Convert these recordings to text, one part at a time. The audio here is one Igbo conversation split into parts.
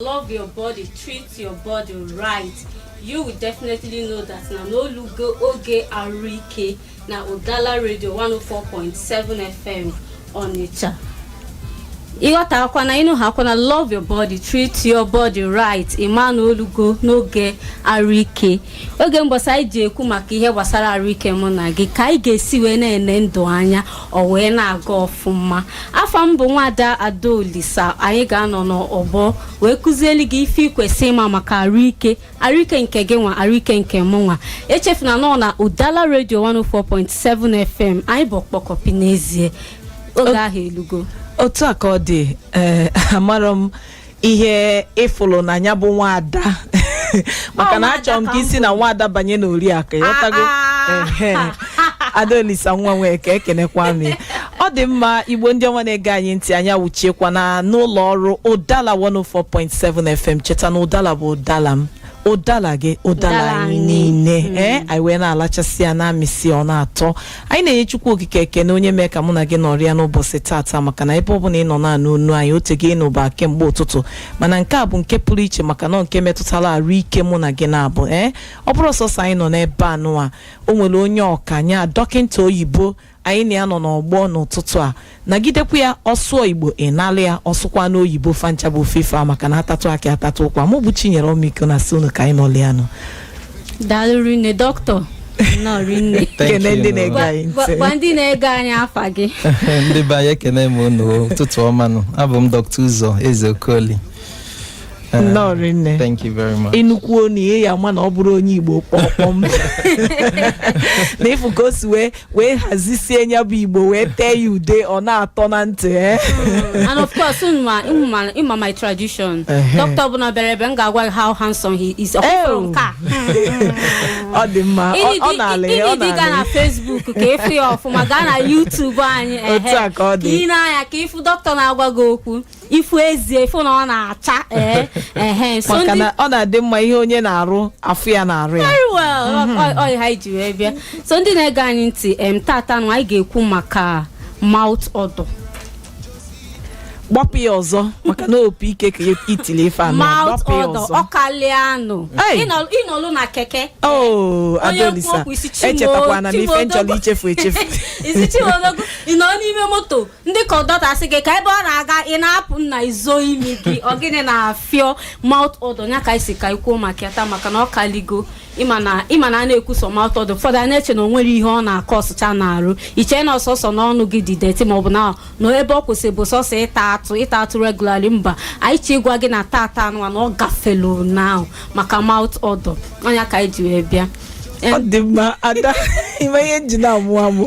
love your body treat your body right you will definitely know that na n'olugo oge arụ ike na Udala Radio 104.7 FM Onitsha ịghọta akwa na ịnụ ha akwa na love your body treat your body right ịma na olugo n'oge arụike oge mbọsị anyị ji ekwu maka ihe gbasara arụike mụ na gị ka anyị ga-esi wee na-ene ndụ anya ọ wee na-aga ọfụma afa m bụ nwada adaolisa anyị ga-anọ n'ọgbọ wee kụzieli gị ife ikwesị ịma maka arụike arụike nke gị nwa arụike nke mụ nwa echefuna nọ na ụdala redio 104.7 fm anyị bụ ọkpọkọpi n'ezie oge ahụ elugo otu a ka ọ dị ee amarọ m ihe ịfụlụ na nya bụ nwaada maka na achọrọ m ka isi na nwaada banye n'oriakụ ịghọtago Ah, ah. Ehe. adaolisa nwa nweke ekenekwa m ya. ọ dị mma igbo ndị ọma na-ege anyị ntị anyị awụchiekwana n'ụlọ ọrụ ụdala 104.7 fm cheta na ụdala bụ ụdala m ụdala gị ụdala Ụdala anyị anyị. niile ee anyị wee na-alachasị ya na-amịsị ọ na-atọ anyị na-enye chukwu okike ekene onye mee ka mụ na gị nọrịa n'ụbọchị tata maka na ebe ọbụla ị nọ na-anụ onu anyị o tego ịnụba kemgbe ụtụtụ mana nke a bụ nke pụrụ iche maka na nke metụtara arụ ike mụ na gị na-abụ ee ọ bụrọ sọsọ anyị nọ n'ebe anụwa o nwere onye ọka nya dọkịta oyibo anyị na ya nọ n'ọgbọ n'ụtụtụ a nagidekwa ya ọsụọ igbo ị nalụ ya ọsụkwanụ oyibo fancha bụ ofu ife maka na atatụ akị atatụ ụkwa mụ bụ chinyere ọmịiko na-asị unu ka anyị nọlịa nụ daalụ rinne dọkịta nnọọ rinne Thank kene you, ndị no. na-ege Gwa- anyị gwa- ntị gwa ndị na-ege anyị afa gị ndị be anyị ekene m unu o. ụtụtụ ọma nụ abụ m dr ụzọ eze okoli Eh, nnọọ rinne thank you very much ịnụkwuo onu ya ma na ọ bụrụ onye igbo kpọkpọm na ịfụ ka o si wee wee hazisie nya bụ igbo wee tee ya ude ọ na-atọ na ntị eh? and of course ịma ịma- ịma my tradition Ehe. dọkịta ọbụna bịara ebe m ga-agwa gị how handsome he is Ew. ọkụkọ nke a ọ dị mma ọ ọ na-ala ya ọ ịdị gaa na-ala na ya. facebook ka ịfụ ya ọfụma gaa na youtube anyị Otu a ka ọ dị. ị nee anya ka ịfụ dọkịta na-agwa gị okwu ịfụ ezie ịfụ na ọ na-acha ee ehe so maka ndị na ọ na-adị mma ihe onye na-arụ afụ ya na-arụ ya very well ọ- ọ- ọ ha iji wee bịa so ndị na-ege anyị ntị em tata nụ anyị ga-ekwu maka mouth odor gbapụ ya ọzọ maka na opi ike ka ya itili ife anụ mouth gbapụ ya odor ọzọ ọkalianụ Hey! Ịnọlụ- ịnọlụ na keke oo Onye kwu adaolisa okwu isi Chimo, echetakwana m ife Chimo nchọrọ Odogwu. ichefu echefu isi chimologo ị nọ n'ime moto ndị conductor sị gị kee ebe ọ na-aga ị na-apụ na-ezo imi gị ọ gịnị na-afịọ mouth odor ya ka anyị sị ka anyị kwuo maka ya taa maka na ọ kaligo ị ma na ị ma na a na-ekwuso mouth odor ụfọdụ a na-eche na o nwere ihe ọ na-acausecha n'arụ i che na ọ sọsọ na ọnụ gị dị dirty maọbụ na na ebe ọ kwụsị bụ sọsọ ịta atụ ịta atụ regularly mba anyị chọ ịgwa gị na tata anụnwa na ọ gafelu na maka mouth odor ọ nya ka anyị ji wee bịa ọ dị mma Ada ị ma ihe m ji na-amụ amụ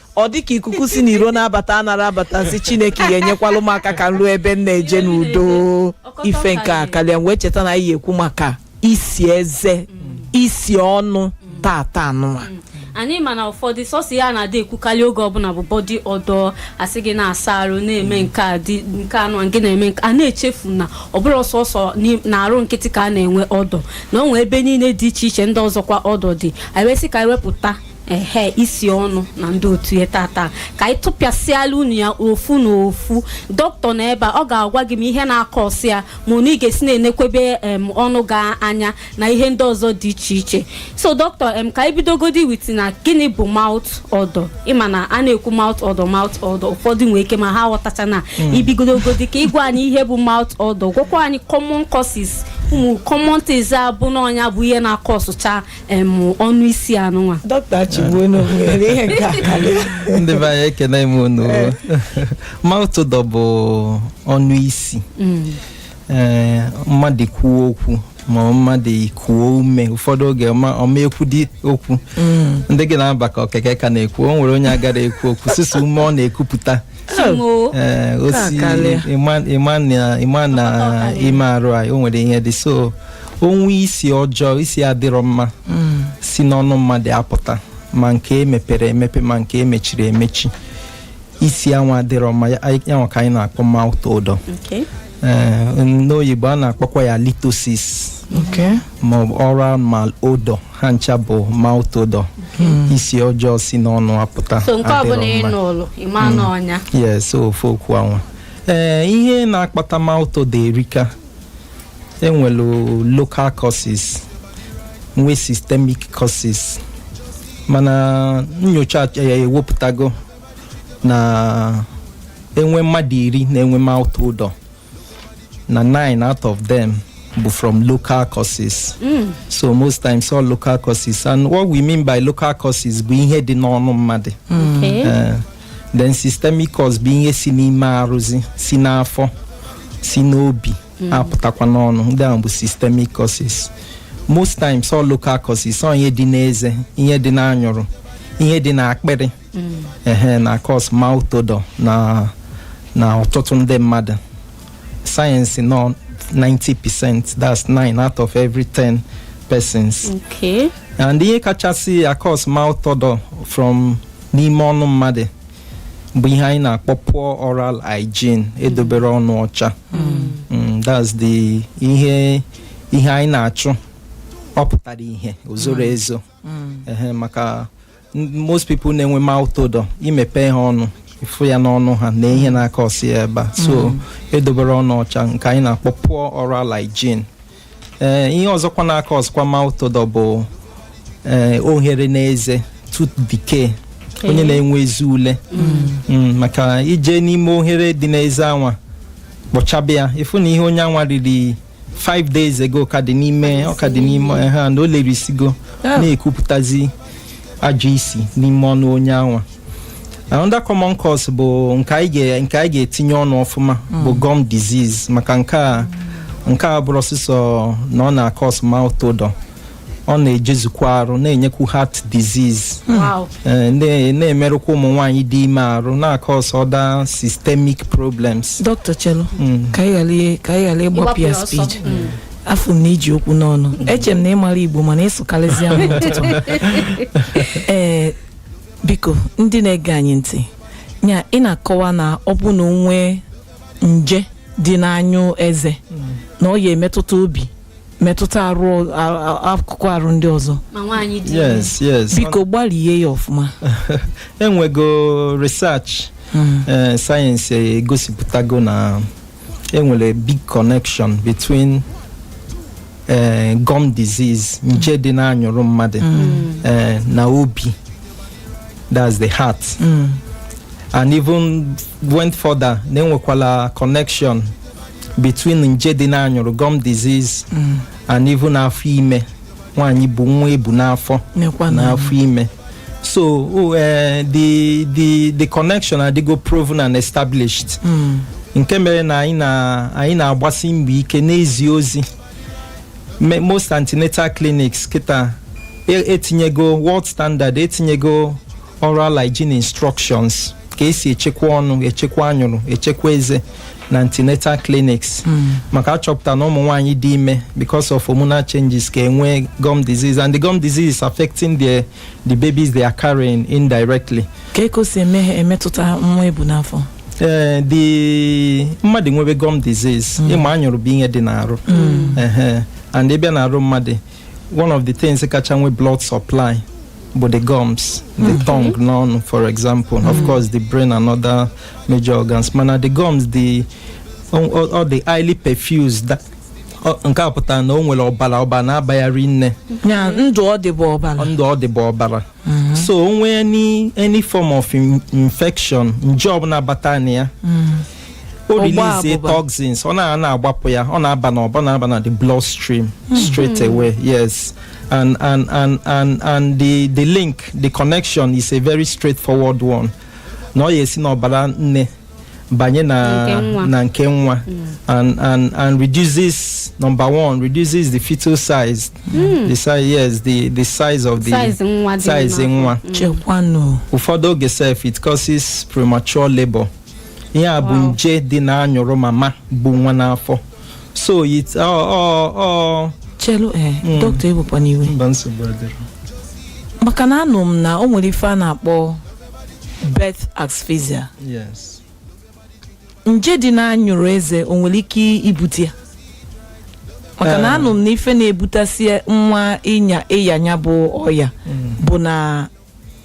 ọ dị ka ikuku si n'iro na-abata anara abata m sị Chineke ya nyekwalụ m aka ka m ruo ebe m na-eje n'udo ife nke a karịa m wee cheta na anyị ga-ekwu maka isi eze isi ọnụ tata anụnwa anyị ma na ụfọdụ sọsọ ya na-adị ekwukarị oge ọbụla bụ body odor a sị gị na-asa arụ na-eme nke a dị nke anọ nke na-eme nke a na-echefu na ọ bụrọ sọsọ n'i- na arụ nkịtị ka a na-enwe odor na o nwee ebe niile dị iche iche ndị ọzọkwa odor dị anyị wee sị ka anyị wepụta ehe isi ọnụ na ndị otu ya tata ka anyị tụpịasịala unu ya ofu na ofu dọkịta nọ ebe a ọ ga-agwa gị ma ihe na-acause ya ma otu ị ga-esi na-enekwebe em, ọnụ gị anya na ihe ndị ọzọ dị iche iche so dọkịta em, ka anyị bidogodi with na gịnị bụ mouth odor ị ma na a na-ekwu mouth odor mouth odor ụfọdụ nwere ike ma ha ghọtacha na i bidogodi ka ị gwa anyị ihe bụ mouth odor gwakwa anyị common causes ụmụ common things a bụ na ọ nya bụ ihe na-acausecha em ọnụ isi anụnwa dọkịta Chigbo n'onwe ya na ihe nke a karịa ndị be anyị ekene m unu mouth odor bụ ọnụ isi Mm. ee mmadụ kwuo okwu ma ọ mmadụ kuo ume ụfọdụ oge ọ ma ọ ma ekwudị okwu ndị gị na-aba ka Okeke ka na-ekwu o nwere onye agara ekwu okwu sọsọ ume ọ na-ekupụta Chi m o. ee o si Ka karịa. ị ma ị ma na ị ma na Ọ karịa. ime arụ a o nwere ihe dị so o nwe isi ọjọọ isi adịrọ mma Mm. si n'ọnụ mmadụ apụta ma nke e mepere emepe ma nke e mechiri emechi isi anwa adịrọ mma ya ya nwa ka anyị na-akpọ mouth odor Okay. ee n'oyibo a na-akpọkwa ya halitosis Okay. maọbụ oral malodor ha ncha bụ mouth odor isi ọjọọ si n'ọnụ apụta so nke adịrọ ọbụla ị mma. nụrụ ị ma na ọ nya yes ofu okwu anwa ee ihe na-akpata mouth odor erika e nwelu local causes nwee systemic causes mana nyocha ya ewepụtago na e nwee mmadụ iri na-enwe mouth odor na nine out of them bụ from local causes so most times ọ local causes and what we mean by local causes bụ ihe dị n'ọnụ mmadụ Okay. Eh, then systemic cause bụ ihe si n'ime arụzi si n'afọ si n'obi apụtakwa n'ọnụ ndị ahụ bụ systemic causes most times ọ local causes ọ ihe dị n'eze ihe dị n'anyụrụ ihe dị n'akpịrị ehe na-acause mouth odor na na ọtụtụ ndị mmadụ sayensị nọ 90% that's 9 out of every 10 persons Okay. and ihe kachasị acause mouth odor from n'ime ọnụ mmadụ bụ ihe anyị na-akpọ poor oral hygiene edobero ọnụ ọcha Mm, that's the ihe ihe anyị na-achụ ọ pụtara ihe o zoro ezo ehe maka n- most people na-enwe mouth odor imepe ha ọnụ ịfụ ya n'ọnụ ha na ihe na-acause ya ebe a so edobero ọnụ ọcha nke anyị na-akpọ poor oral hygiene ee ihe ọzọkwa na-acausekwa mouth odor bụ ee ohere n'eze tooth decay onye na-enwe eze ule Mm, maka ije n'ime ohere dị n'eze anwa kpọchaba ya ịfụ na ihe onye anwa riri five days ago ọ ka dị n'ime ọ ka dị n'ime eh, ha na o lerisigo Ah. na-ekupụtazi ajọ isi n'ime ọnụ onye anwa another common cause bụ nke anyị ga- nke anyị ga-etinye ọnụ ọfụma bụ gum disease maka nke a nke a abụrọ sọsọ na ọ na-acause mouth odor ọ na-ejezukwa arụ na-enyekwu heart disease Wow. eh, na- na-emerụkwa ụmụ nwaanyị dị ime arụ na-acause other systemic problems dọkịta chelu Mm. ka anyị ghara ihe- ka anyị ghara ịgbapụ Ịgbapụ ya ya ọsọ. speed afụ m na iji okwu n'ọnụ eche m na ịmara igbo mana ịsụkarịzịa m n'ụtụtụ ee biko ndị na-ege anyị ntị ya ị na-akọwa na ọ bụ na o nwee nje dị n'anyụ eze na ọ ya emetụta obi metụta arụ a- a- akụkụ arụ ndị ọzọ ma nwaanyị dị ime. yes yes biko gbalie ya ọfụma enwego research Mm. eh, sayensị egosipụtago na enwere big connection between eh, gum disease nje dị n'anyụrụ mmadụ eh, na obi that's the heart Mm. and even went further na enwekwala connection between nje dị n'anyụrụ gum disease and even afọ ime nwaanyị bụ nwa ebu n'afọ Nekwa na- n'afọ ime so oh, eh, the the the connection adịgo proven and established Mm. nke mere na anyị na anyị na-agbasi mbọ ike na-ezi ozi Me- most antenatal clinics kịta e- etinyego world standard etinyego oral hygiene instructions ka esi echekwa ọnụ echekwa anyụrụ echekwa eze na antenatal clinics maka achọpụta na ụmụ nwaanyị dị ime because of hormonal changes ka enwe gum disease and the gum disease is affecting the, the babies they are carrying indirectly kee ka o si eme ha emetụta nwa ebu n'afọ Eh, the mmadụ nwebe gum disease ịma anyụrụ bụ ihe dị n'arụ Ehe. and ị bịa n'arụ mmadụ one of the things kacha nwe blood supply bụ the gums the mm-hmm. tongue n'ọnụ for example of mm. course the brain and other major organs mana the gums ọ dị highly perfused nke a pụta na o nwere ọbara ọbara na-abagharị nne ndụ ọ dị bụ ọbara ndụ ọ dị bụ ọbara so o nwee any any form of in- infection nje ọbụla bata na ya o release toxins ọ na na-agbapụ ya ọ na-aba na ọba na-aba na the blood stream straight away yes and and and and and the the link the connection is a very straightforward one na ọ ya-esi n'ọbara nne banye na Nke nwa. na nke nwa and and and reduces number one reduces the fetal size the size yes the the size of the Size nwa dị size n'afọ. nwa chekwanụ ụfọdụ oge sef it causes premature labour ihe a bụ Wow. nje dị n'anyụrụ mama bu nwa n'afọ so it ọ ọ ọ chelu ee Mm. dọkịta ewekwana iwe mba nsogbu adịrọ maka na anụ m na o nwere ife a na-akpọ birth asphyxia yes nje dị n'anyụrụ eze o nwere ike ibute ya maka na Eh. anụ m na ife na-ebutasị nwa ịya nya bụ ọya bụ na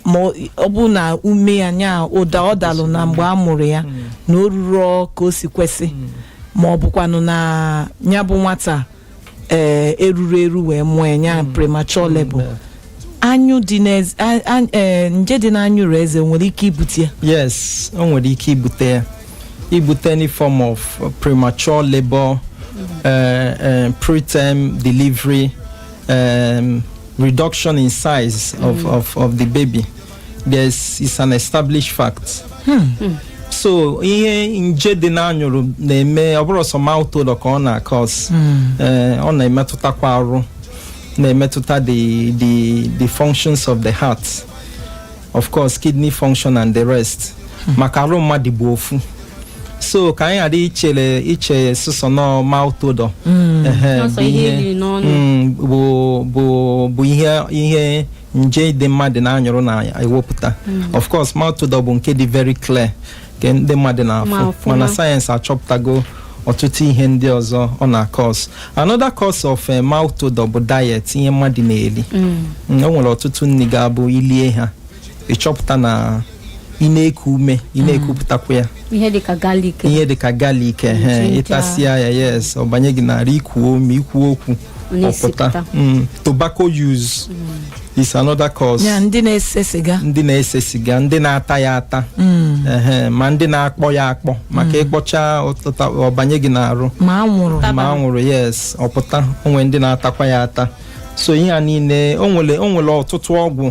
ma ọ ọ bụ na ume ya nya ụda ọ dalụ na mgbe a mụrụ ya na o rurọ ka o si kwesị ma ọ bụkwanụ na nya bụ nwata ee erurọ eru wee mụọ ya nya premature labor anyụ dị n'eze a- a- ee, nje dị n'anyụrụ eze nwere ike ibute ya yes o nwere ike ibute ya ibute any form of uh, premature labor uh, uh, preterm delivery um, reduction in size of, of, of the baby it's an established fact hmm. so ihe nje dị n'anyụrụ na-eme ọ bụrọ sọ mouth odor ka ọ na-cause hmm. eh, ọ na-emetụtakwa arụ na-emetụta the the the functions of the heart of course kidney function and the rest hmm. maka arụ mmadụ bụ ofu so ka anyị ghara ichere iche sọsọ na ọ mouth odor bụ ihe bụ ihe nje dị mmadụ n'anyụrụ na-ewepụta of course mouth odor bụ nke dị very clear nke ndị mmadụ Ma na-afụ ọfụma. mana science achọpụtago ọtụtụ ihe ndị ọzọ ọ na-cause another cause of eh, mouth odor bụ diet ihe mmadụ na-eri Mm, o nwere ọtụtụ nri ga-abụ i lie ha ị chọpụta na ị na-eku ume ị na-ekupụtakwa ya ihe dịka garlic ihe dịka garlic ehe Ginger. ị tasịa ya yes ọ banye gị n'arụ i kuo ume i kwuo okwu ọ pụta mm, tobacco use mm. is another cause ya ndị na-ese siga ndị na-ese siga ndị na-ata ya ata mm. ma ndị na-akpọ ya akpọ maka ị kpọcha ọ banye gị n'arụ ma anwụrụ ma anwụrụ yes ọ pụta o nwere ndị na-atakwa ya ata so ihe a niile o nwere ọtụtụ ọgwụ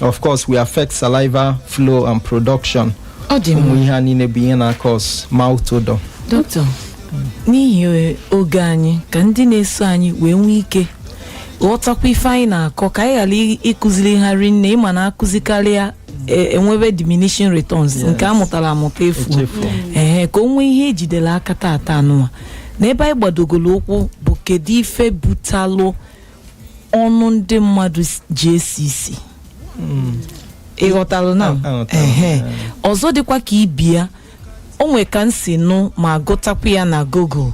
of course will affect saliva flow and production ọ dị ụmụ mma ihe a niile bụ ihe na-cause mouth odor doctor n'ihi oge anyị ka ndị na-eso anyị wee nwee ike ghọtakwa ife anyị na-akọ ka anyị ghara ị- ịkụziri ha rinne ị ma na a kụzikarịa e- e nwebe diminishing returns nke a mụtara amụta efu Echefu. ee ka o nwee ihe e jidere aka tata anụwa n'ebe anyị gbadogoro ụkwụ bụ kedu ife butalụ ọnụ ndị mmadụ s- ji esi isi ị ghọtara na A- aghọtara m, Ehe. eh. ọzọ dịkwa ka ibe ya o nwee ka m si nụ ma gụtakwa ya na google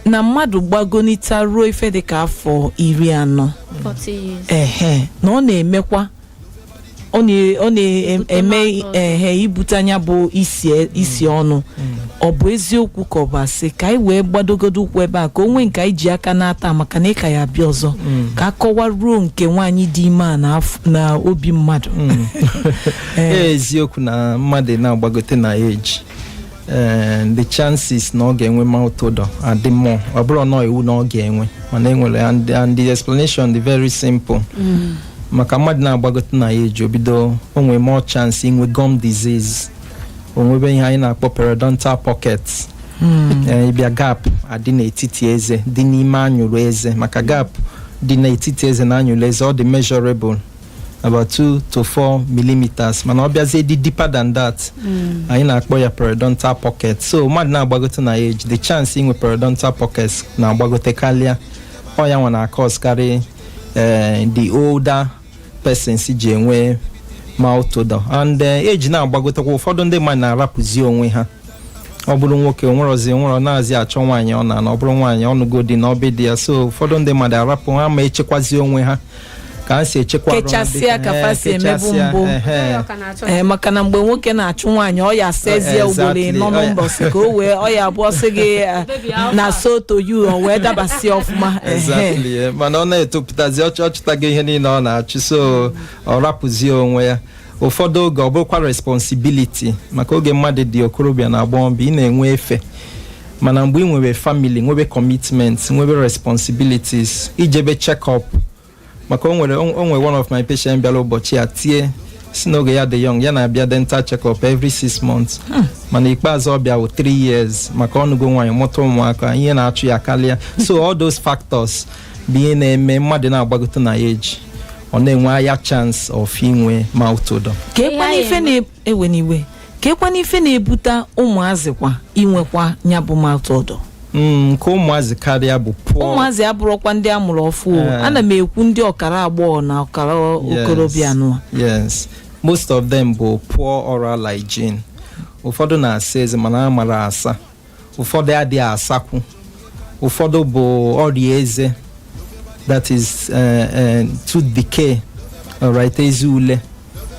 na mmadụ gbagonita ruo ife dịka afọ iri anọ 40 years. ehe na ọ na-emekwa ọ na- ọ na-eme ehe ibute nya bụ isi isi ọnụ ọ bụ eziokwu ka ọ bụ asị ka anyị wee gbadogodo ụkwụ ebe a ka o nwee nke anyị ji aka na taa maka na ị ka ya-abịa ọzọ ka a kọwaruo nke nwaanyị dị ime a na af- na obi mmadụ Ee. eziokwu na mmadụ na-agbagote na age eh, the chances na ọ ga-enwe mouth odor adị more ọ bụrọ na iwu na ọ ga-enwe mana e nwere ya and, and the explanation dị very simple maka mmadụ na-agbagote na age o bido o nwee more chance inwe gum disease o nwebe ihe anyị na-akpọ periodontal pocket Eh, ị bịa gap adị n'etiti eze dị n'ime anyụrụ eze maka gap dị n'etiti eze na anyụrụ eze ọ dị measurable about 2 to 4 millimeters mana ọ bịazie dị deeper than that anyị na-akpọ ya periodontal pocket so mmadụ na-agbagote na age the chance inwe periodontal pocket na-agbagote karịa ọ ya nwa na-cause karị eh, the older persons ji enwe mouth odor and eh, age na-agbagotekwa ụfọdụ ndị mmadụ na-arapụzi onwe ha ọ bụrụ nwoke o nwerozi nwere ọ na-azị achọ nwaanyị ọ na-ana ọ bụrụ nwaanyị ọ nụgo di nọ be di ya so ụfọdụ ndị mmadụ arapụ ha ma echekwazi onwe ha ka ha si echekwa arụ ha Kechasịa dịka- ka fa eh, si emebu kechasịa, mbụ. eh, eh. Onye ọ ka na-achọ ee maka na mgbe nwoke na-achụ nwaanyị ọ ya-asa eze Eh, ugboro exactly. ịnọ Ọ ya- n'ụbọchị ka o wee ọ ya-abụ ọ sị gị eh, Baby, how na far? so to you o wee dabasị ọfụma ehe. Exactly, eh. mana ọ na-etopụtazi ọ chụtago ihe niile ọ na-achụ so ọ rapụzie onwe ya ụfọdụ oge ọ bụrụkwa responsibility maka oge mmadụ dị okorobịa na agbọghọbịa ị na-enwe efe mana mgbe ị nwere family nwebe commitments nwebe responsibilities ijebe check up maka o nwere o nwere one of my patients bịara ụbọchị ya tie sị n'oge ya dị young ya na-abịa dental check up every six months mana ikpeazụ ọ bịa wụ 3 years maka ọ nụgo nwaanyị mụta ụmụaka ihe na-achụ ya karịa so all those factors bụ ihe na-eme mmadụ na-agbagote na age ọ na-enwe higher chance of inwe mouth odor kee kwanụ ife na-ewe m iwe kee kwanụ ife na-ebute ụmụazị kwa inwekwa nya bụ mouth odor Mm, nke ụmụazị karịa bụ poor ụmụazị abụrọkwa ndị a mụrụ ọfụụ o. Eh. ana m ekwu ndị ọkara agbọghọ na ọkara Yes, okorobịa nụ yes most of them bụ poor oral hygiene ụfọdụ na-asa eze mana amarọ asa ụfọdụ adịghị asakwu ụfọdụ bụ ọrịa eze that is uh, uh, tooth decay alright eze ule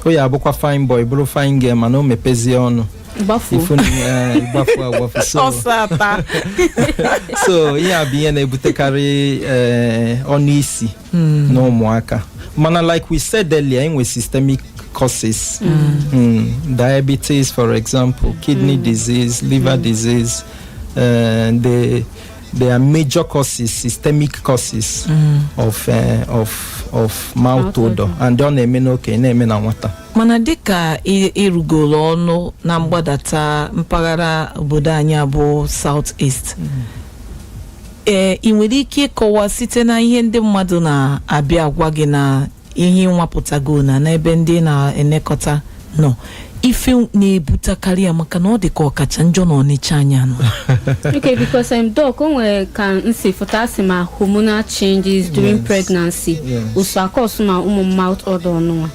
o ya abụkwa fine boy bụrụ fine girl mana o mepezie ọnụ ị gbafuo ifu na eh, ịgbafu agbafu so ọsọ ata so ihe a bụ ihe na-ebutekarị eh, ọnụ isi na ụmụaka mana like we said earlier e nwe systemic causes Mm, diabetes for example kidney disease liver disease uh, they, they are major causes systemic causes of, uh, of, of mouth Mouth odor odor. and ọ na-eme n'okenye na-eme na nwata mana dịka ị- ị rụgoro ọlụ na mgbadata mpaghara obodo anyị a bụ south east ee ị nwere ike ịkọwa site na ihe ndị mmadụ na-abịa agwa gị na ihe ị nwapụtago na n'ebe ndị ị na-enekọta nọ ife na-ebutakarị ya maka na ọ dị ka ọ kacha njọ na Ọnịcha anyị nọ okay because um, doc o nwere ka m si fụta a sị ma hormonal changes during Yes. pregnancy Yes. o so a-cause ma ụmụ mouth odor nụwa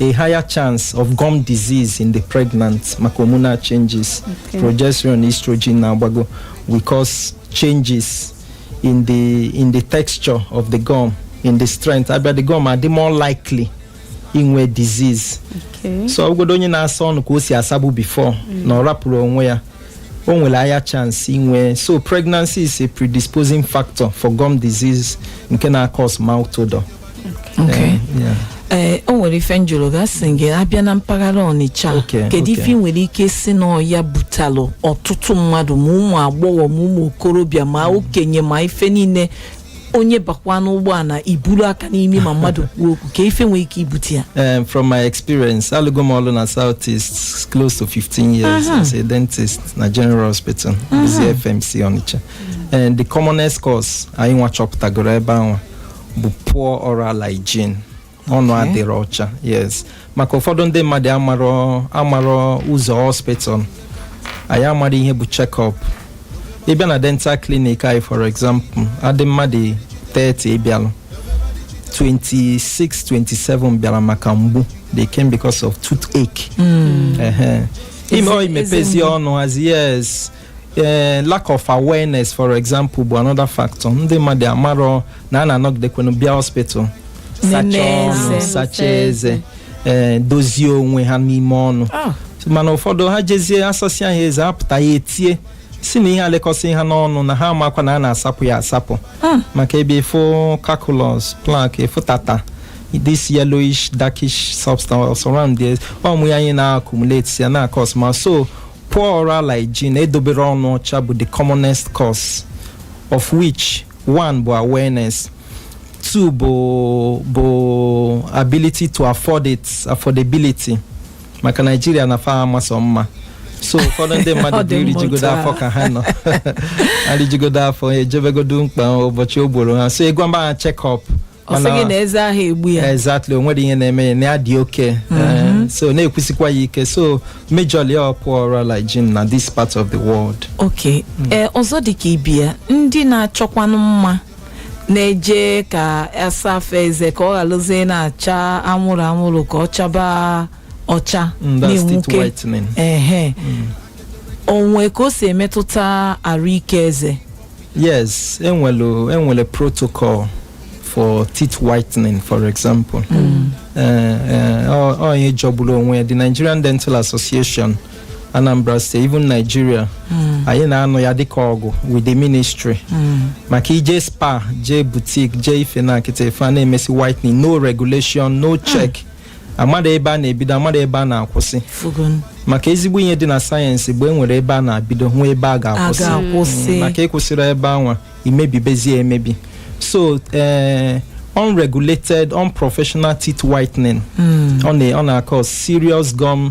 a higher chance of gum disease in the pregnant maka hormonal changes okay. progesterone estrogen na-agbago will cause changes in the in the texture of the gum in the strength a bịa the gum adị more likely inwe disease okay. so ọ bụgodo onye na-asa ọnụ ka o si asabu before mm. na ọ rapụrụ onwe ya o nwere higher chance inwe so pregnancy is a predisposing factor for gum disease nke na-cause mouth odor Okay. Eh, yeah. ee o nwere ife m jụrụ gị sị gị a bịa na mpaghara Ọnịcha Okay, kedu ife okay. ị nwere ike sị na ọ ya butalụ ọtụtụ mmadụ ma ụmụ agbọghọ ma ụmụ okorobịa ma okenye ma ife niile onye bakwa n'ụgbọala i buru aka n'imi ma mmadụ kwuo okwu kee ife nwere ike ibute ya Um, from my experience, alụgo m ọrụ na South East close to 15 years Aha. as a dentist na General Hospital, bụzi FMC Onitsha. And the commonest cause anyị nwa chọpụtagoro ebe anwa bụ poor oral hygiene ọnụ Okay. adịrọ ọcha yes maka ụfọdụ ndị mmadụ amarọ amarọ ụzọ hospital anyị amarọ ihe bụ check-up ịbịa na dental clinic anyị for example ndị mmadụ 30 bịalụ 26 27 bịara maka mgbu they came because of toothache Ehe. ime Eze- ọ i mepezie eze mgbu. ọnụ as yes ee lack of awareness for example bụ another factor ndị mmadụ amarọ na a na-anọgidekwanụ bịa hospital sacha Nene ọnụ eze. sacha eze ee dozie onwe ha n'ime ọnụ Ah. mana ụfọdụ ha jezie asasịa ha eze apụta ya etie sị na ihe alekọsị ha n'ọnụ na ha amakwa na a na-asapụ ya asapụ Ah. maka ebe ịfụ calculus plaque ịfụ tartar this yellowish darkish substance around there ọ bụ ya anyị na-accumulate ya na-cause ma so Poor oral hygiene edoberọ ọnụ ọcha bụ the commonest cause of which one bụ awareness two bụ bụ ability to afford it affordability maka Nigeria na fa amasọ mma so ụfọdụ ndị mmadụ Ọ dị bụ mma irijugodo otu a. afọ ka ha nọ arijugodo afọ ejebegodo mkpa ụbọchị o gboro ha so ịgwa mba ha check up ọ sị gị na eze aha egbu ya exactly o nwerọ ihe na-eme ya na ya dị okay Eh, so na-ekwusikwa ya ike so majorly ọ poor oral hygiene na this part of the world okay ee ọzọ dị ka ịbịa ndị na-achọkwanụ mma na-eje ka a saa fa eze ka ọ gharazie na-acha anwụrụ anwụrụ ka ọ chaba ọcha Mm, that's teeth na-enwuke whitening ehe o nwe ka o si emetụta arụ ike eze yes enwere enwere protocol for teeth whitening for example Eh, eh, ọ ọ ihe jọgburu onwe ya the nigerian dental association anambra state even nigeria anyị na-anụ ya dịka ọgụ with the ministry maka ije spa jee boutique jee ife na nkịtị ịfụ a na-emesi whitening no regulation no check amarọ ebe a na-ebido amarọ ebe a na-akwụsị ị fụgo maka ezigbo ihe dị na science bụ e nwere ebe a na-abido nwee ebe a a ga-akwụsị ga-akwụsị Mm, maka ị kwụsịrọ ebe anwa imebibezie emebi so eh, unregulated unprofessional teeth whitening Mm. ọ na- ọ na-cause serious gum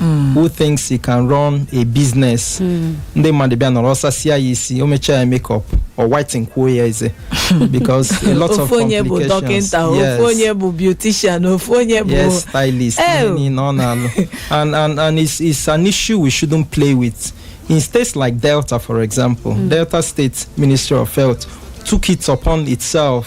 Mm. who thinks he can run a business Mm. ndị mmadụ bịa nọrọ ọ sasịa ya isi o mechaa ya makeup ọ whiten kwuo ya eze because a lot of ofu onye bụ complications dọkịta ofu Yes. onye bụ beautician ofu onye bụ yes stylist Oh. ihe niile ọ na-alụ and and and it's, it's an issue we shouldn't play with in states like delta for example delta state ministry of health took it upon itself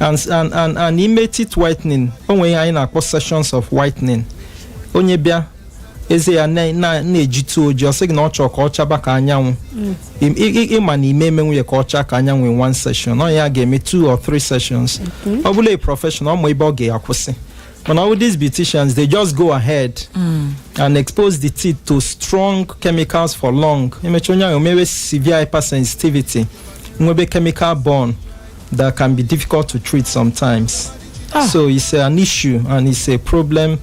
and and and and ime teeth whitening o nwere ihe anyị na-akpọ sessions of whitening onye bịa eze ya na- na- na-ejitụ oji ọ sị gị na ọ chọrọ ka ọ chaba ka anyanwụ Im- ị- ị- ịma na ị ma emenwu ya ka ọ chaa ka anyanwụ in one session ọ ihe a ga-eme two or three sessions ọ bụlụ a professional ọ ma ebe ọ ga-akwụsị mana all these beauticians they just go ahead and expose the teeth to strong chemicals for long emecha onye ahụ nwewe severe hypersensitivity nwebe chemical burn that can be difficult to treat sometimes. Ah. So it's an issue and it's a problem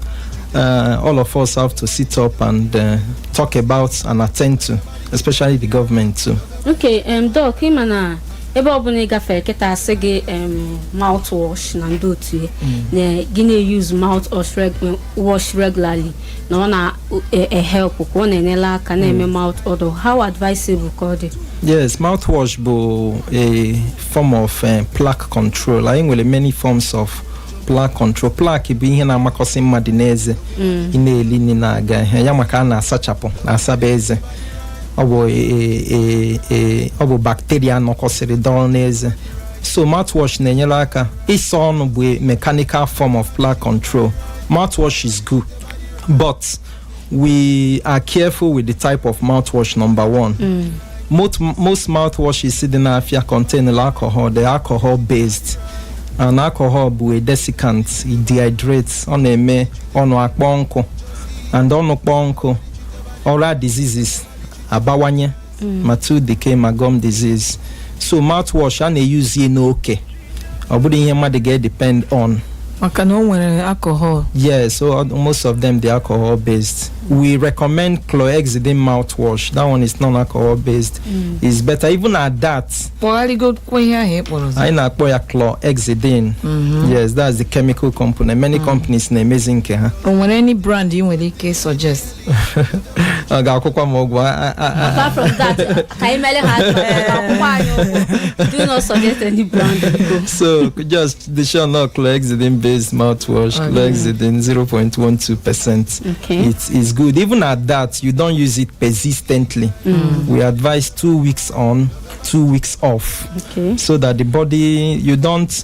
uh, all of us have to sit up and uh, talk about and attend to, especially the government too. Okay, um, Doc, ịma na ebe ọ bụla ị gafere kịta a sị gị um, mouth wash na ndị otu ya na gị na-use mouth wash reg- wash regularly na ọ na-ehelpụ ka ọ na-enyere aka na-eme mouth odor how advisable ka ọ dị yes mouthwash bụ a form of eh, plaque control anyị nwere many forms of plaque control plaque bụ ihe na-amakọsị mmadụ n'eze ị na-eli nri na-aga ihe ya maka a na-asachapụ na-asaba eze ọ bụ eh, eh, eh, ọ bụ bacteria nọkọsịrị dọrọ n'eze so mouthwash na-enyere aka ịsa ọnụ bụ a mechanical form of plaque control mouthwash is good but we are careful with the type of mouthwash number one mm. most most mouthwashes dị n'afịa contain alcohol they're alcohol based and alcohol bụ a desiccant it dehydrates ọ na-eme ọnụ akpọ nkụ and ọnụ kpọọ nkụ oral diseases abawanye ma tooth decay ma gum disease so mouthwash a na-euse ya n'oke ọ bụrọ ihe mmadụ ga-edepend on maka na o nwere alcohol Yes, so uh, most of them they're alcohol based. We recommend chlorhexidine mouthwash. That one is non-alcohol based. It's better. Even at that, kpọgharịgokwa ihe ahụ ị kpọrọ ọzọ. Anyị na-akpọ ya chlorhexidine. Yes, that's the chemical component. Many companies na-emezi nke ha. o nwere any brand ị nwere ike suggest a ga-akwụkwa m ụgwọ a- a- a- a- apart from that ka anyị mere ha atụ akwụkwa anyị ụgwọ do not suggest any brand biko so just be sure na ọ chlorhexidine based mouthwash Okay. chlorhexidine 0.12 percent okay it is good even at that you don't use it persistently we advise two weeks on two weeks off okay so that the body you don't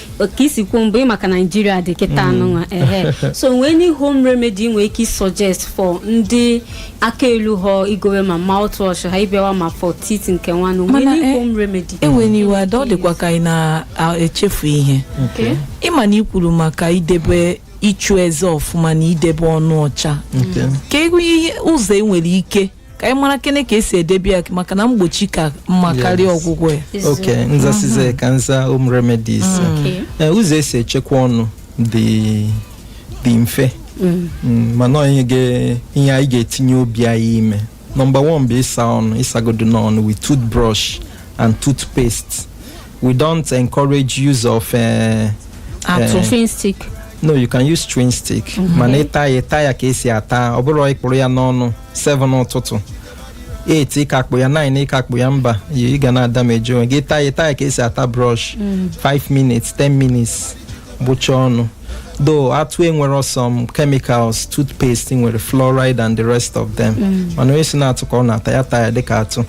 ka i si kwuo mbụ maka naijiria dị kịtaa nụnwa ehe so o nwee any home remedy i nwee ike suggest for ndị aka eluhọ igowe ma mouthwash ha ịbịawa ma for teeth nke nwanụ nwee Mana, any eh, home remedy ewena iwe ada ọ dịkwa ka anyị na-echefu ihe Okay. ịma na i kwuru maka idebe ịchụ eze ọfụma na idebe ọnụ ọcha Okay. ka ego ihe ụzọ e nwere ike ka anyị mara kene ka esi edebe ya maka na mgbochi ka mma karịa ọgwụgwọ ya Is- okay nzasize ka nza home remedies Okay. Eh, ụzọ esi echekwa ọnụ dị dị mfe Mm. Mm, mana ọ ihe ga- ihe anyị ga-etinye obi anyị ime number one bụ ịsa ọnụ ịsagodu n'ọnụ with toothbrush and toothpaste we don't encourage use of eh, atụ Eh. chewing stick no you can use chewing stick mana ịta ya ịta ya ka esi ata ọ bụrụ ịkpụrụ ya n'ọnụ 7 ụtụtụ 8 ịka akpụ ya 9 ịka akpụ ya mba you- ị ga na-adamage onwe gị ịta ya ịta ya ka esi ata brush 5 minutes 10 minutes gbụcha ọnụ though atụ enwere some chemicals toothpaste nwere fluoride and the rest of them mana onye sị na atụ ka ọ na-ata ya taa ya dịka atụ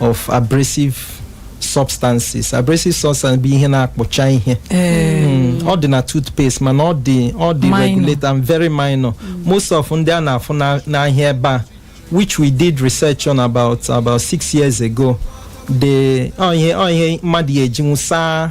of abrasive substances abrasive substance bụ ihe na-akpụcha ihe Ee. Mm, ọ dị na toothpaste mana ọ dị ọ dị Minor. regulated and very minor most of ndị a na-afụ na- n'ahịa ebe a which we did research on about about six years ago the ọ ihe ọ ihe mmadụ ya ejinwu saa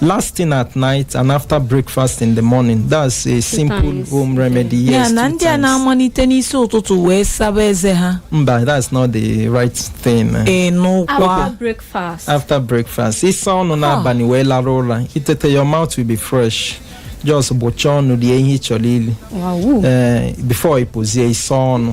last thing at night and after breakfast in the morning that's a simple times. home remedy ya yes na two ndị a times. na-amalite n'isi ụtụtụ wee saba eze ha mba that's not the right thing eh. after ịnụkwa breakfast after breakfast ị saa ọnụ n'abalị wee lara ụra i tete your mouth will be fresh just gbụchaa ọnụ rie ihe ị chọrọ ili Wow. ee before ị pụzie ị saa ọnụ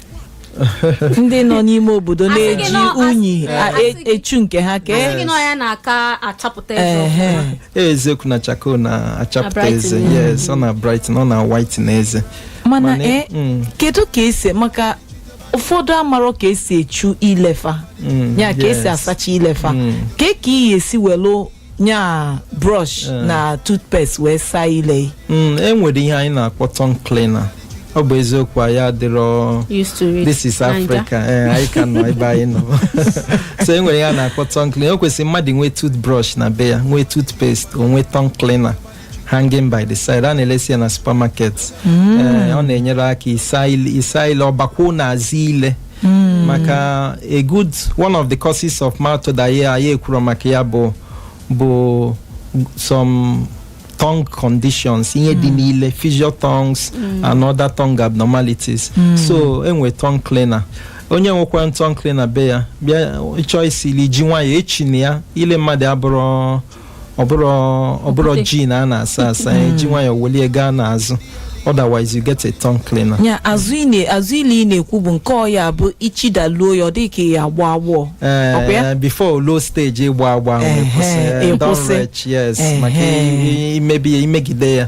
ndị nọ n'ime obodo Asị gị na-eji nọ- asị- unyi eh, a- asị e- gị- echu nke ha ka Asị e- gị na ọ ya na-aka achapụta eze ọfụma. ehe eziokwu na charcoal na-achapụta Na eze brighten ya. yes ọ na brighten ọ na whiten eze mana Mana- e mm. kedu ka esi maka ụfọdụ amarọ ka esi echu ile fa Mm, ya ka esi yes. asacha ile fa Mm. ke ka i ya-esi welu nya brush Eh. na toothpaste wee saa ile Mm, e nwere ihe anyị na-akpọ tongue cleaner ọ bụ eziokwu anyị adịrọ used to it this is Naija. africa eh, anyị ka nọ ebe anyị nọ so e nwere ihe a na-akpọ tongue cleaner o kwesịrị mmadụ nwee toothbrush na be ya nwee toothpaste o nwee tongue cleaner hanging by the side a na-elesi ya na supermarket Ee, ọ na-enyere aka ịsa ile ịsa ile ọ bakwuo n'azụ ile maka a good one of the causes of mouth odor anyị anyị ekwuru maka ya bụ bụ some tongue conditions ihe dị n'ile fissure tongues and other tongue abnormalities so enwe tongue cleaner onye nwekwa tongue cleaner be ya bịa chọọ ịsa ile ji nwayọ echina ya ile mmadụ abụrọ ọ bụrọ ọ bụrọ Okwute. jean a na-asa asa ya ji nwayọọ welie gaa n'azụ otherwise you get a tongue cleaner ya azụ ị na- azụ ile ị na-ekwu bụ nke ọ ya-abụ i chidaluo ya ọ dị ka ị ya-agbọ agbọ Ọkwa ya? Eh, before o luo stage ịgbọ agbọ Ehe, ịkwụsị. ịkwụsị yes maka Ehe. i- i- imebi ya imegide ya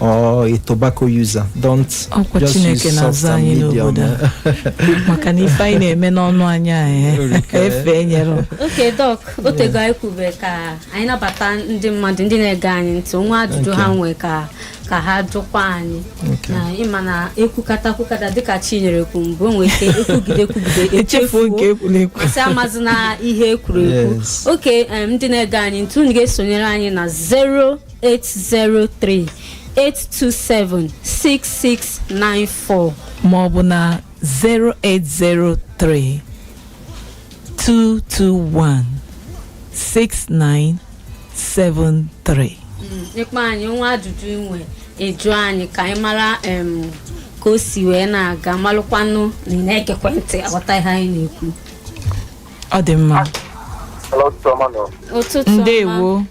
or a tobacco user. Don't ọkwa just chineke use soft na-azọ and anyị medium. n'obodo a maka na ife anyị na-eme n'ọnụ anyị anyị erika. efe nyere okay doc otego anyị kwube ka anyị nabata ndị mmadụ ndị na-ege anyị ntị o nwee ajụjụ ha nwee ka ka ha jụkwa anyị Okay. na ịma na ekwukata kwukata dịka chinyere kwu mbụ o nwere ike ekwugide ekwugide echefuo nke ekwuru ekwu asị amazị na ihe ekwuru ekwu Yes. okay em, ndị na-ege anyị ntị unu ga-esonyere anyị na 0 803 827 6694 ma ọ bụ na 0803 221 6973 ịkpọ anyị o nwee ajụjụ i nwe ị jụọ anyị ka anyị mara em, ka o si wee na-aga malụkwanụ na ị na-egekwe ntị aghọta ihe anyị na-ekwu ọ dị mma Hello, Chioma nọ. ụtụtụ ọma. ndewo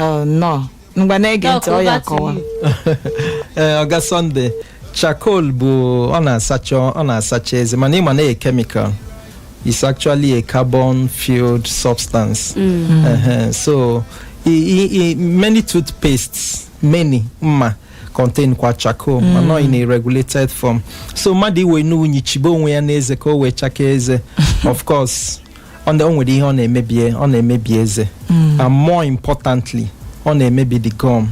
Oh, nnọọ ngwa na-ege ntị ọ ya-akọwa ee ọga Sunday charcoal bụ ọ na-asacha ọ na-asacha eze mana ịma na chemical is actually a carbon filled substance Ehe, so i, i, i, many toothpastes many mma contain kwa charcoal mana ọ in a regulated form so mmadụ iwe nụ unyi chibe onwe ya n'eze ka o wee chaka eze of course ọ na- o nwere ihe ọ na-emebi ọ na-emebi eze and more importantly ọ na-emebi the gum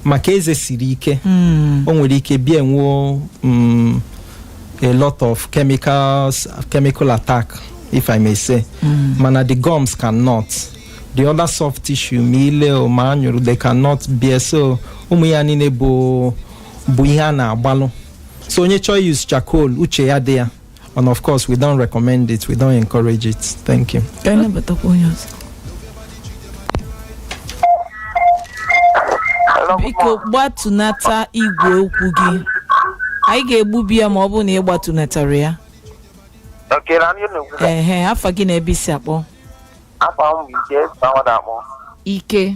maka eze siri ike Mm. o nwere ike bear nnọọ mm, a lot of chemicals chemical attack if i may say Mm. mana the gums cannot the other soft tissue ma ile o ma anyụrụ they cannot bear so ụmụ ihe a niile bụ bụ ihe a na-agbalụ so onye chọọ use charcoal uche ya dị ya and of course we don't recommend it we don't encourage it thank you ka anyị nabatakwa onye ọzọ biko gbatunata igwe okwu gị anyị ga-egbubi ya ma ọ bụrụ na ị gbatunatarọ ya Okay, na ndị na-ekwu ka ehe afa gị na ebe i si akpọ afa m bụ Ike si Awada akpọ Ike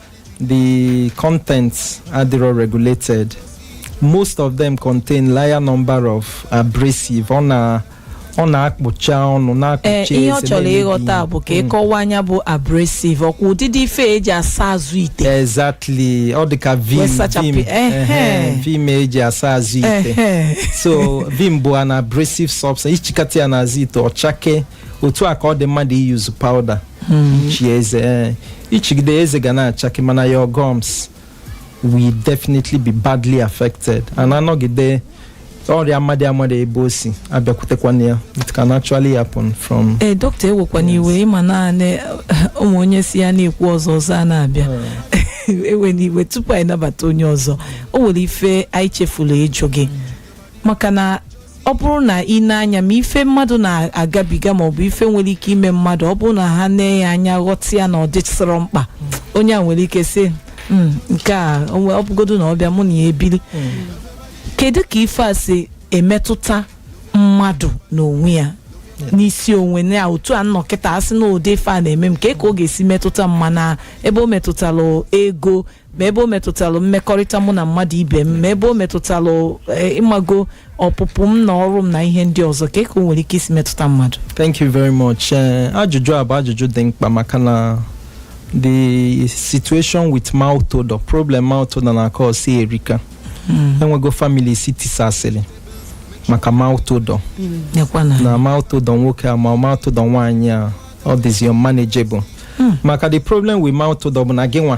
the contents adịrọ regulated. Most of them contain higher number of abrasive ọ na ọ na-akpụcha ọnụ ee na-akpụcha ihe ọ eze, chọrọ na-emebi ịghọta ihe. bụ ka Mm. ị kọwaa nya bụ abrasive ọkwa ụdịdị ife eji asa azụ ite exactly ọ dị ka vim Wee sachapụ- vim ehe. ehe, vim eji asa azụ ite Ehe. so vim bụ an abrasive substance ichikata ya n'azụ ite ọ chake otu a ka ọ dị mmadụ i-use powder ichi eze ee. ichigide eze ga na-achake mana your gums will definitely be badly affected and anọgide ọrịa amadị amadị ebe o si abịakwutekwana ya it can actually happen from ee dọkịta ewekwana Yes. iwe ị ma na anyị eh, ụmụ onye si ya na-ekwu ọzọ ọzọ a na-abịa ewena iwe tupu anyị nabata onye ọzọ o nwere ife anyị chefuru ịjụ gị maka na ọ bụrụ na i nee anya ma ife mmadụ na-agabiga ma ọ bụ ife nwere ike ime mmadụ ọ bụrụ na ha nee ya anya ghọta ya na ọ dịsịrọ mkpa onye a nwere ike sị "Mm, nke a o nwe- ọ bụgodu na ọ bịa mụ na ya ebili kedu ka ife a si emetụta mmadụ n'onwe ya n'isi onwe na ya otu a nọ kịta a sị na ụdị ife a na-eme m ka ka ọ ga-esi metụta m ma na ebe o metụtara ego ma ebe o metụtara mmekọrịta mụ na mmadụ ibe m ma ebe o metụtara eh, ịmago ọpụpụ m na ọrụ m na ihe ndị ọzọ ka ka o nwere ike isi metụta mmadụ thank you very much Eh, ajụjụ a bụ ajụjụ dị mkpa maka na the situation with mouth odor problem mouth odor na-acause erika e nwego families tisasịrị maka mouth odor nekwa na na mouth odor nwoke a ma mouth odor nwaanyị a ọ dịzi unmanageable Hmm. maka the problem with mouth odor bụ na gị nwa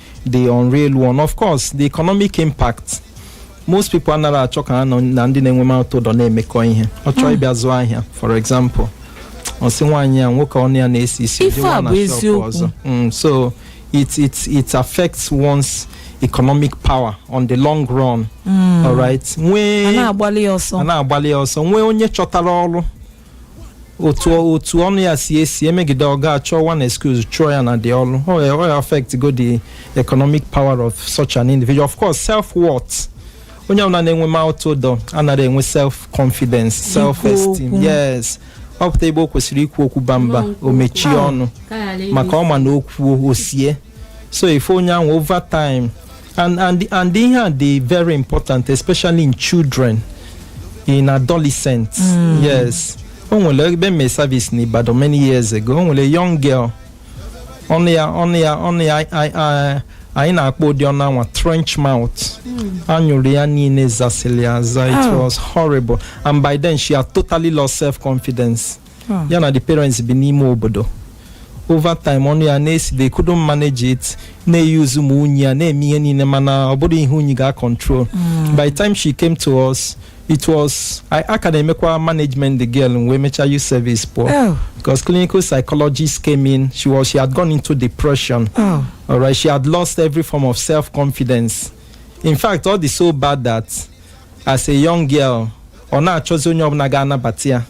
the unreal one of course the economic impact most people anaghị achọ ka ha na ndị na-enwe mouth odor na-emekọ ihe ọ chọọ ịbịa zụọ ahịa for example ọ sị nwaanyị a nwoke ọnụ ya na-esi isi Ife jewa a na bụ shop eziokwu. ọzọ. Mm, so it, it, it affects one's economic power on the long run all right a nwee na-agbalị ya ọsọ a na-agbalị ya ọsọ nwee onye chọtara ọrụ otu ọ- otu ọnụ ya si esi emegide ọ ga-achọ one excuse chụọ ya na the ọrụ ọ ya- ọ ya affect go the economic power of such an individual of course self worth onye ọbụla na-enwe mouth odor anaghị enwe self confidence self esteem okwu. yes ọ pụta ebe o kwesịrị ikwu okwu bamba Nọ nkwu. o mechie Ah. ọnụ Ka ya lee maka ọ ma na o kwuo o sie so if onye ahụ over time and and the- and ihe a dị very important especially in children in adolescents yes o nwere ebe m mee service n'Ibadan many years ago o nwere young girl ọnụ ya ọnụ ya ọnụ ya anyị- anyị- anyị- anyị na-akpọ ụdị ọnụ anwa trench mouth anyụrụ ya niile zasịrị aza it Oh. was horrible and by then she had totally lost self confidence Oh. ya na the parents bi n'ime obodo over time ọnụ ya na-esi they couldn't manage it na-use ma unyi ya na-eme ihe niile mana ọ bụrọ ihe unyi ga-control by the time she came to us it was I- a ka na-emekwa management the girl m wee mechaa youth service pụọ Oh. because clinical psychologist came in she was she had gone into depression Oh. all right she had lost every form of self-confidence in fact ọ dị so bad that as a young girl ọ na-achọzi onye ọbụla ga-anabata ya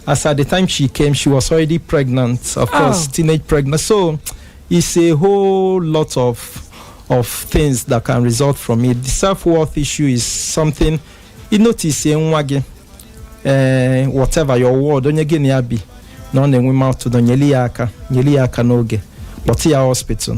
As at the time she came, she was already pregnant, of course, Oh. teenage pregnant. So it's a whole lot of of things that can result from it. The self-worth issue is something ị notice nwa gị eh, whatever your ward onye gị na ya bi na ọ na-enwe mouth odor nyeli ya aka nyeli ya aka n'oge kpọta ya hospital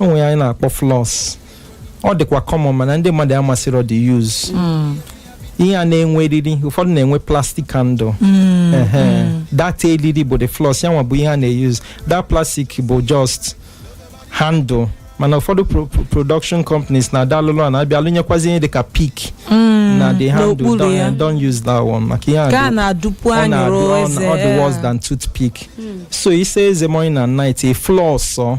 o nwere anyị na-akpọ floss ọ dịkwa common mana ndị mmadụ amasịrọ the use ihe a na-enwe eriri ụfọdụ na-enwe plastic handle Ehe. that eriri bụ the floss ya nwa bụ ihe a na-use that plastic bụ just handle mana ụfọdụ pro- pro- production companies na-ada alụlụ a na-abịa alụnyekwazi ihe dịka pick na the handle n'okpuru don't, ya. eh, don't use that one maka ihe a ka a dị- na-adụpu ọ na-adị anyụrụ ọ na- ọ dị eze worse than toothpick so ịsa eze morning and night a floss ọ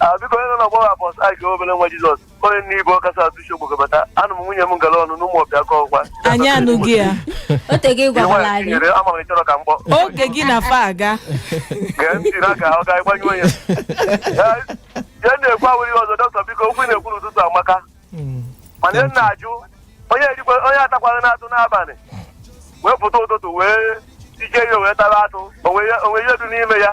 Ah, biko onye nọ n'ọgbọ bụ abọs a ga obere nwa jizọs onye nne ibe ọkasa atụchi ogbogobata anụ m nwunye m gara ọnụ n'ụmụ ọbịa ka ọkwa anyị anụghị ya o tego ị gwara anyị tinyere ama m chọrọ ka m kpọ oge gị na fa aga gee ntị na ka ọ ga-agbanyụ onye jee na-ekwu awụrị ọzọ dọkịta biko okwu ị na-ekwu n'ụtụtụ amaka mana ihe m na-ajụ onye erikwe onye atakwaghị atụ n'abalị wee pụta ụtụtụ wee rie ihe wee tara atụ o nwere ihe dị n'ime ya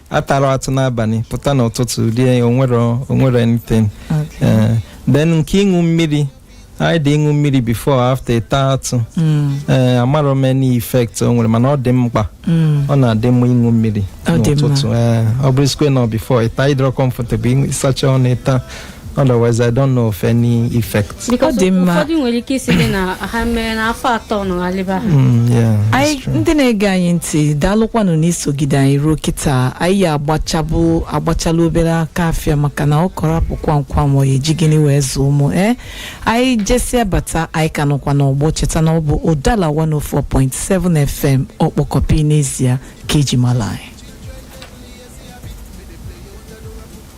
atarọ atụ n'abalị pụta n'ụtụtụ rie ihe o nwere o nwere anything Okay. Eh, then nke ịṅụ mmiri anyị dị ịṅụ mmiri before after ịta atụ Mm, ee amarọ m any effect o nwere mana ọ dị mkpa mm. ọ na-adị mma ịṅụ mmiri Ọ dị mma. n'ụtụtụ ee ọ bụrụ sịkwa na before ị taa ị dịrọ comfortable ị sachaa ọnụ ị taa Otherwise, I don't know of any effect. Because Ọ dị mma. ụfọdụ nwere ike ịsị gị na ha mere na afọ atọ nọ ghaliba ha Mm, yeah, that's anyị true. ndị na-ege anyị ntị daalụkwanụ n'isogide anyị ruo kịta anyị ya agbachabụ agbachala obere aka afịa maka na ọkụkọ rapụ kwọm kwọm ọ ya-eji gịnị wee zụọ ụmụ ee anyị jesia bata anyị ka nọkwa n'ọgbọ cheta na ọ bụ ụdala 104.7 fm ọkpọkọpi n'ezie ka eji mala anyị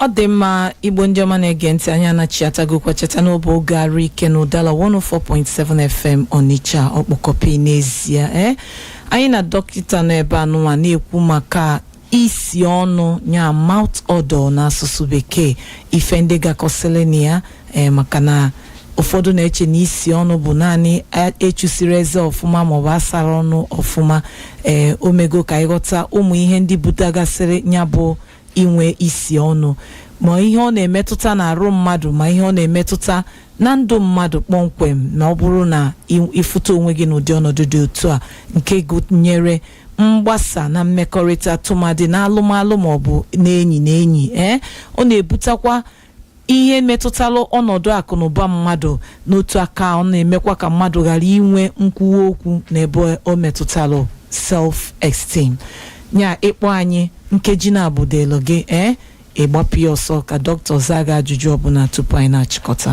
ọ dị mma igbo ndị ọma na-ege ntị anyị anachitagokwa cheta na ọ bụ oge arụ ike na ụdala 104.7 fm ọnịcha ọkpọkọpi n'ezie ee anyị na dọkịta nọ ebe anụnwa na-ekwu maka isi ọnụ nya mouth odor n'asụsụ bekee ife ndị gakọsịrị na ya ee maka na ụfọdụ na-eche na isi ọnụ bụ naanị a- echusirọ eze ọfụma maọbụ asarọ ọnụ ọfụma ee omego ka anyị ghọta ụmụ ihe ndị butegasịrị ya bụ inwe isi ọnụ ma ihe ọ na-emetụta n'arụ mmadụ ma ihe ọ na-emetụta na ndụ mmadụ kpọmkwem na ọ bụrụ na ị- ị fụta onwe gị n'ụdị ọnọdụ dị otu a nke gụnyere mgbasa na mmekọrịta tụmadị na alụmalụ maọbụ na enyi na enyi ee ọ na-ebutakwa ihe metụtara ọnọdụ akụnụba mmadụ n'otu aka ọ na-emekwa ka mmadụ ghara inwe nkwuwa okwu n'ebe o metụtara self esteem ya ị kpọọ anyị nkeji naabọ dịịlụ gị ee ị gbapụ ya ọsọ ka dọkịta zaa gị ajụjụ ọbụla tupu anyị na-achịkọta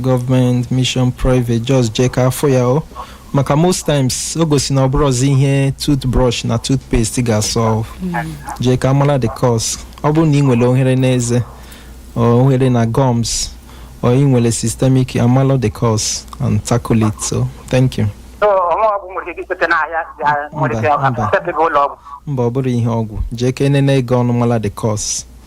gọọmenti mission private just jee ka a fụ ya o maka most times o gosi na ọ bụrọzi ihe toothbrush na toothpaste ga-asolve jee ka a mala the cause ọ bụrụ na ị nwere ohere n'eze or ohere na gums or ị nwere systemic a mala the cause and tackle it so thank you So, o nwe ọgwụ nwere ike ikweta n'ahịa ya nwere ike Mba, mba. ọkasị ebe ụlọ ọgwụ mba ọ bụrọ ihe ọgwụ jee ka e nenee gị ọnụ mara the cause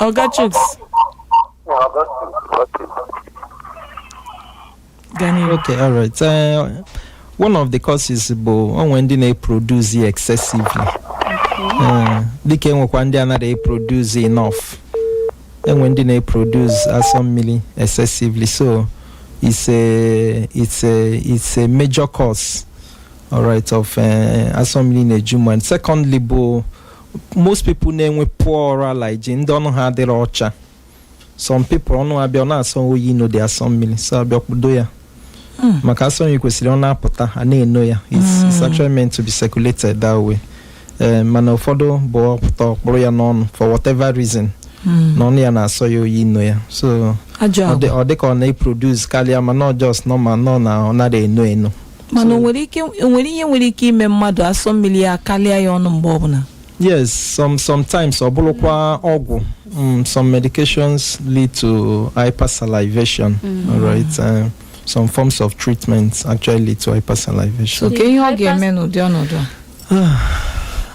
Oga Chuks gaa n'ihu. Okay, all right. Uh, one of the causes bụ o nwe ndị na-eproduce ya excessively. Uh, dịka enwekwa ndị anaghị eproduce enough. Enwe ndị na-eproduce asọ mmiri excessively so it's a it's a it's a major cause all right of uh, asọ mmiri na-eju mmadụ. Secondly bụ most people na-enwe poor oral hygiene ndị ọnụ ha adịrị ọcha some people ọnụ abịa na-asọ oyi ino the asọ mmiri so abịa kpụdo ya Mm. maka asọ mmiri kwesịrị ọ na-apụta a na-eno ya it's, it's Mm. actually meant to be circulated that way Eh, mana ụfọdụ bụ ọ pụta ọ kpụrụ ya n'ọnụ for whatever reason Mm. na ọnụ ya na-asọ ya oyi ino ya so ajọ ọ dị- agwa ọ dị ka ọ na-eproduce karịa mana ọ just normal nọ na ọ narị eno eno mana o nwere ihe nwere ike ime mmadụ asọ mmiri ya akarịa ya ọnụ mgbe ọbụla yes some sometimes ọ bụrụkwa ọgwụ mm, some medications lead to hypersalivation alright um, some forms of treatment actually lead to hypersalivation so kee ihe ọ ga-eme n'ụdị ọnọdụ a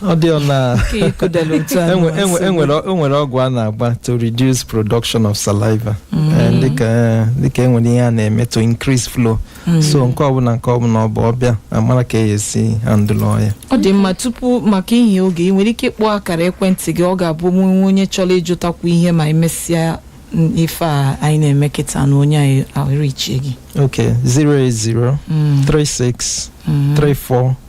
ọ dị ọ na ka ị kụdara otu a enwe- n'ụwa enwe- si enwere ọ- enwere ọgwụ a na-agba to reduce production of saliva Eh, dịka eh, dịka enwere ihe a na-eme to increase flow Mm. so nke ọbụla nke ọbụla ọ bụ ọ bịa a mara ka e si handle ya ọ dị mma tupu maka ihi oge ị nwere ike ịkpọ akara ekwentị gị ọ ga-abụ o nwe onye chọrọ ịjụtakwu ihe ma emesịa n- ife a anyị na-eme kịta na onye anyị ahụ reachie gị ok 080 Mm, 36 mm. 34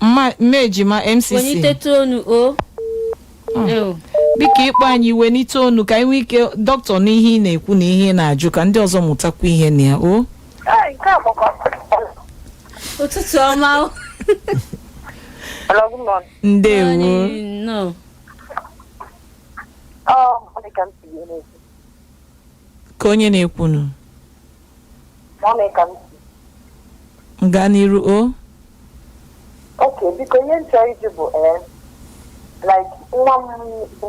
mma mma ejima mcc welitetụ onu o Ew. biko ị kpọọ anyị welite onu ka anyị nwee ike dọkịta nụ ihe ị na-ekwu na ihe ị na-ajụ ka ndị ọzọ mụtakwa ihe na ya o Ee, nke a bụkwa ụtụtụ ọma o. hello good morning ndewo Anyị nọ. ọ dị ka m si wee na-ekwu kee onye na-ekwunu Naanị ka m si. M gaa n'iru o Ok, biko ihe m chọrọ ịjụ bụ ee like nwa m dị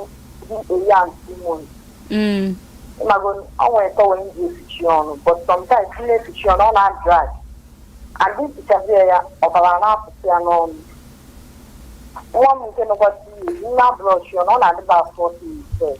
a year and two months. Mm. Ịmago ọ nwere towel m ji efichi ọnụ but sometimes m na-efichi ọnụ ọ na-adrag and m fichazie ya ọbara na-apụta ya n'ọnụ. Nwa m nke nọkwa six years, m na-abrushi ọnụ ọ na-adịba afọ two years.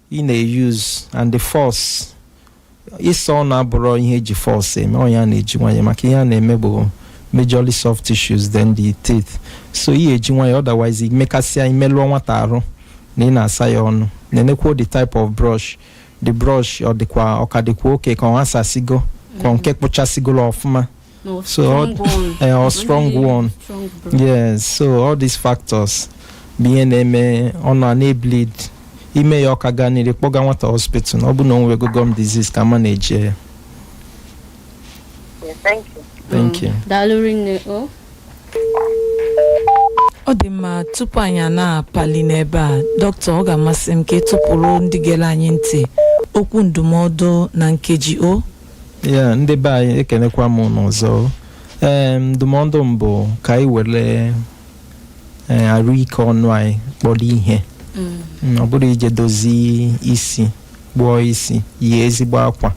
ị na-euse and the force ịsa ọnụ abụrọ ihe e ji force eme ọ ihe a na-eji nwayọ maka ihe a na-eme bụ majorly soft tissues then the teeth so ihe e ji nwayọ otherwise i mekasịa i melụọ nwata arụ na ị na-asa ya ọnụ na-enekwa the type of brush the brush ọ dịkwa ọ ka dịkwa okay ka ọ asasigo ka ọ nke kpụchasigolo ọfụma No, so strong all, one. eh, or strong Only one Strong bro. yes so all these factors bụ ihe na-eme ọnụ a na-ebleed i mee ya ọ ka gaa n'iru kpọga nwata hospital na ọ bụ na o nwere gu- gum disease ka a manage ya Yeah, thank you. thank you Daalụ rinne o. ọ dị mma tupu anyị a na-apali n'ebe a dọkịta ọ ga-amasị m ka ị tụpụrụ ndị gere anyị ntị okwu ndụmọdụ na nkeji o yeah ndị be anyị ekenekwa m unu ọzọ ee ndụmọdụ m bụ ka anyị were ee, arụ ike ọnụ anyị kpọrọ ihe Mm, ọ bụrọ ije dozie isi kpụọ isi yie ezigbo akwa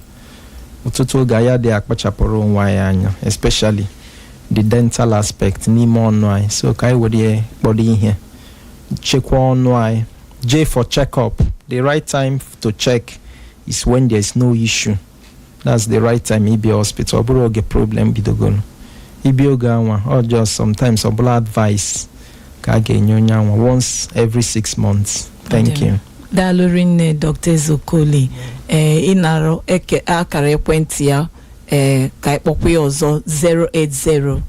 ọtụtụ oge anyị adị akpachapụrụ onwe anyị anya especially the dental aspect n'ime ọnụ anyị so ka anyị were ya kpọrọ ihe chekwa ọnụ anyị jee for check up the right time to check is when there is no issue that's the right time ịbịa hospital ọ bụrọ oge problem bidogolo ị bịa oge anwa ọ just sometimes ọ bụla advice ka a ga-enye onye anwa once every six months thank you Dị mma. daalụ rinne dr ezeokoli ee ịnara eke- akara ekwentị ya ee ka ị kpọkwa ya ọzọ 080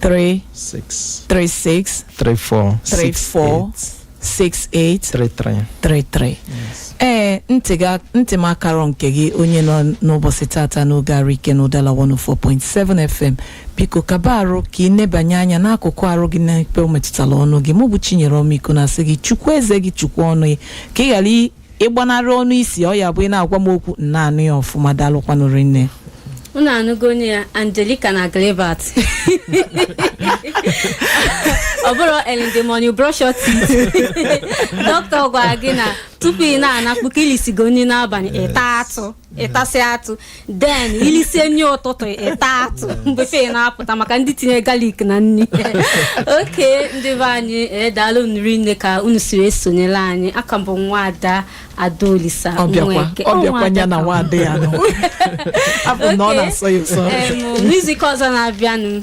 three six three six three four three four six eight six eight three three. three three. Yes. ee ntị ga ntị m akarọ nke gị onye nọ n'ụbọchị tata n'oge arụ ike na ụdala 104.7 fm biko kaba arụ ka ị nebanye anya n'akụkụ arụ gị nke metụtala ọnụ gị mụ bụ chinyere ọmịiko na-asị gị chekwa eze gị chekwa ọnụ gị ka ị ghara i- ị gbanarị ọnụ isi ọ ya bụ ị na-agwa m okwu m na-anụ ya ọfụma daalụkwanụ rinne unu anụgonụ ya angelica na gilbert ọ bụrọ early in the morning brush your teeth dọkịta gwara gị na tupu ị na-anakpu ka i lisigo nni n'abanị ị ta atụ ịtasị atụ then ilisie nri ụtụtụ ịta atụ mgbe ife na-apụta maka ndị tinye garlic na nri okay ndị be anyị daalụnụ rinne ka unu siri esonyela anyị a ka m bụ nwaada adaolisa ọbịakwa ọbịakwa ya na nwaada ya nọ afọ na ọ na-asọ ya ụsọ music ọzọ na-abịanụ